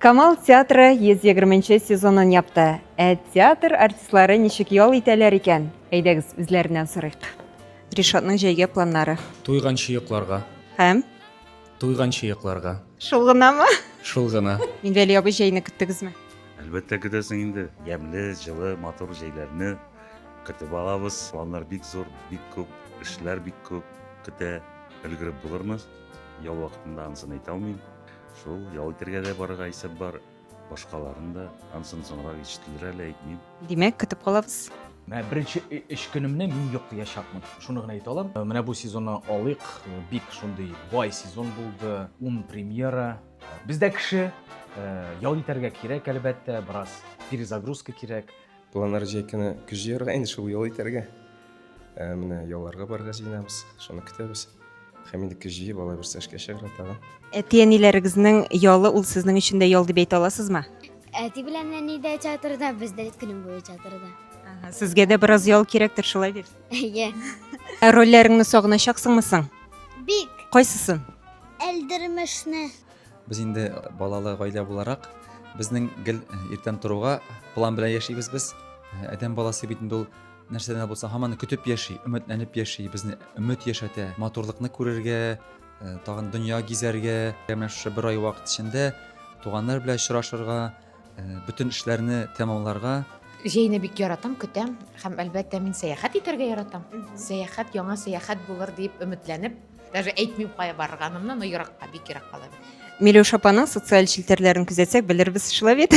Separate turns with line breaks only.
Камал театры 120 нче сезонын япты. Ә театр артистлары ничек ял итәләр икән? Әйдәгез, үзләреннән сорыйк. Ришатның җәйгә планнары. Туйган чыекларга.
Һәм?
Туйган
чыекларга. Шул гынамы?
Шул гына.
Минвәли абый, җәйне
көттегезме? Әлбәттә көтәсең
инде. Ямьле, җылы, матур җәйләрне көтеп алабыз. Планнар бик зур, бик күп, эшләр бик күп көтә. Өлгереп булырмы? Ял вакытында ансыны әйтә алмыйм. Шул, ял итергә дә барырга исәп бар. Башкаларын да, ансын соңрак ишетелер әле әйтмим. Димәк, көтеп калабыз.
Менә беренче
эш көнемне мин йоклыячакмын. Шуны гына әйтә алам. Менә бу сезонны алыйк. Бик шундый бай сезон булды. Ун премьера. Бездә кеше ял итәргә кирәк, әлбәттә, бераз перезагрузка кирәк. Планнар җәй көне
көз җыярга инде шул ял итәргә. Ә менә ялларга барырга җыенабыз. Шуны көтәбез. Һәм инде көз җыеп алай берсе эшкә чыгарга тагын. Әти-әниләрегезнең
ялы ул сезнең өчен дә ял дип әйтә аласызмы? Әти белән
әни дә чатырда, без дә көнем буе чатырда. Ага, Сезгә дә
бераз ял кирәктер, шулай бит. Әйе.
Ә рольләреңне
сагыначаксыңмы соң? Бик
Кайсысын?
әлдермешне.
Без
инде балалы гаилә буларак, безнең гел иртән торуга план белән яшибез без. Адәм баласы бит инде ул нәрсәдән дә булса һаман көтеп яши, өметләнеп яши, безне өмет яшәтә. Матурлыкны күрергә, тагын дөнья гизәргә, менә шушы бер ай вакыт эчендә туганнар белән очрашырга, Бөтен эшләрне тәмамларга. Җәйне бик
яратам, көтәм һәм әлбәттә мин сәяхәт итәргә яратам. Сәяхәт, яңа сәяхәт булыр дип өметләнеп, даже әйтмим кая барырганымны, но еракка,
бик
еракка да.
Миләүшә апаның социаль челтәрләрен күзәтсәк, белербез
шулай бит.